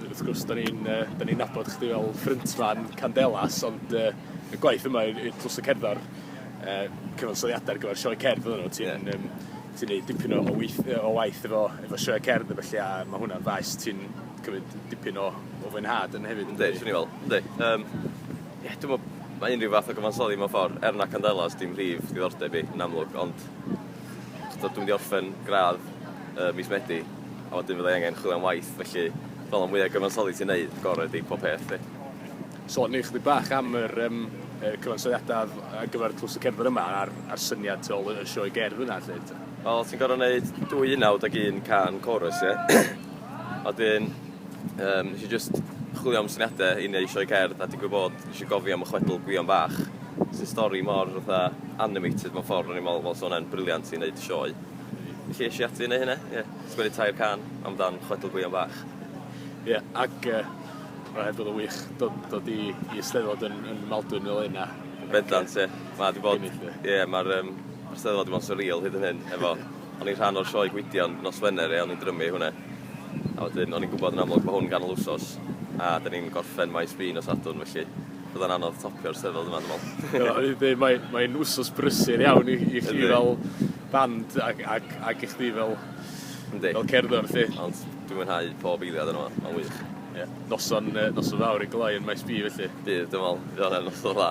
Wrth gwrs 'dan ni'n yy 'dan ni'n nabod chdi fel ffryntman Candelas ond yy y gwaith yma i'r i'r tlws y cerddor yy cyfansoddiada ar gyfer sioe cerdd oddon nw ti'n yym... Ie. ...ti'n neud dipyn o o weith- yy o waith efo efo sioe cerdd a felly a ma' hwnna'n faes ti'n cymryd dipyn o o fwynhad yn hefyd yndi? Yndi swn i fel yndi yym ie dwi me'wl ma' unryw fath o gyfansoddi mewn ffor er na Candelas dim mhrif ddiddordeb i yn amlwg ond So dwi'n mynd i orffen gradd ym mis Medi a wedyn fydda i angen chwilio am waith felly fel y mwya gyfansoddi ti'n neud y gore ydi pob peth 'di. So o'n i chydig bach am yr yym y cyfansoddiada ar gyfer Tlws y Cerddwyr yma a'r a'r syniad tu ôl y y sioe gerdd yna 'lly t-. Wel ti'n gor'o' neud dwy unawd ag un cân corus ie? A wedyn Yym nesh i jyst chwilio am syniade i neu' sioe cerdd a digwydd bod nesh i gofi am y chwedl Gwion Bach sy'n stori mor fatha animated mewn ffordd o'n i'n me'wl wel sa wnna'n briliant i neud sioe. Felly esh i ati i neu' hynna ie. Sgwennu tair can am dan chwedl Gwion Bach. Ie ac yy ma' hyd yn o'd wych do- dod i i Eisteddfod yn yn Maldwyn fel 'yn a Bendant ie. Ma' 'di bod ie ma'r yym ma'r Steddfod 'di bo' yn swreal hyd yn hyn efo o'n i'n rhan o'r sioe Gwydion nos Wener ie o'n i'n drymu hwnna. A wedyn, o'n i'n gwybod yn amlwg bod hwn ganol wsos, a da ni'n gorffen maes B nos Sadwrn, felly byddai'n anodd topio'r steddfod yma, dwi'n meddwl. Mae'n mae wsos brysur iawn i, i chi fel band ac, ac, ac i chdi fel, Yndi. fel cerddor, felly. Ond dwi'n mwynhau pob eiliad yno, mae'n wych. Ie, noson, noson fawr i gloi yn maes B, felly. Bydd, dwi'n meddwl, bydd o'n noson dda.